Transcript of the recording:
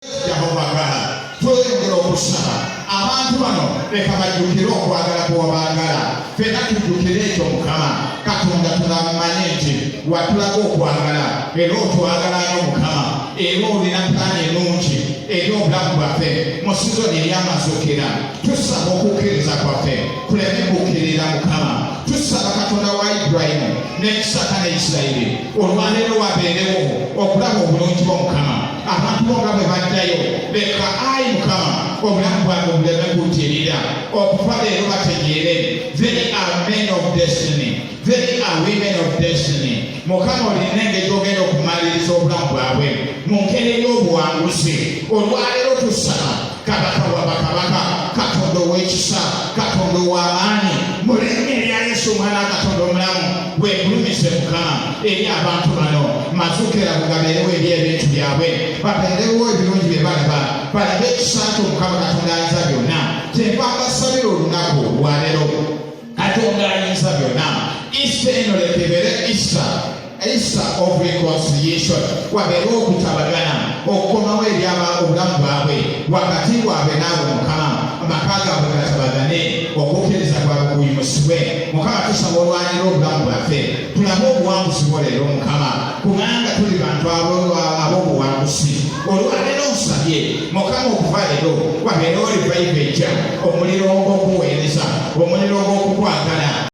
Yehova agala tweyongera okusaba abantu bano leka bajjukire okwagala kwewabaagala fena tujjukire ekyo mukama katonda tunamumanye nti watulaga okwagala era otwagalayo mukama era olina pulaani enungi eri obulamu bwaffe mu sizoni eryamazukira tusaba okukkiriza kwaffe kuleme kukkirira mukama tusaba katonda wa ibulayimu ne isaka ne isirayiri olwaleero wabeerewo okulaba obulungi bw'omukama abantu bo nga bwe baddayo leka ayi mukama obulamu bwange obuleme kutirira okuva leero bategeere they are men of destiny they are women of destiny mukama olina engeri ogenda okumaliriza obulamu bwabwe mu ngeri ey'obuwanguzi olwaleero tusaba kabaka wa bakabaka katonda ow'ekisa katonda ow'amaanyi mu linnya erya yesu omwana katonda omulamu wegulumize mukama eri abantu bano mazukira bugabeerewo eri ebintu byabwe babeerewo ebirungi bye balaba balabe ekisa kyo mukama katonda ayinza byonna kyenva mbasabira olunaku lwaleero katonda ayinza byonna issa eno leka ebeere issa issa of reconciliation wabeere okutabagana okukomawo ebyaba obulamu bwabwe wakati waabwe naawe mukama amaka gaabwe gatabagane okukkiriza kwabwe kuyimusibwe mukama tusaba olwanyira obulamu bwaffe tulabe obuwanguzi bwo leero mukama kubanga tuli bantu ab'obuwanguzi olwaleero nsabye mukama okuva leero wabeerewo livayivu enkya omuliro ogw'okuweereza omuliro ogw'okukwagala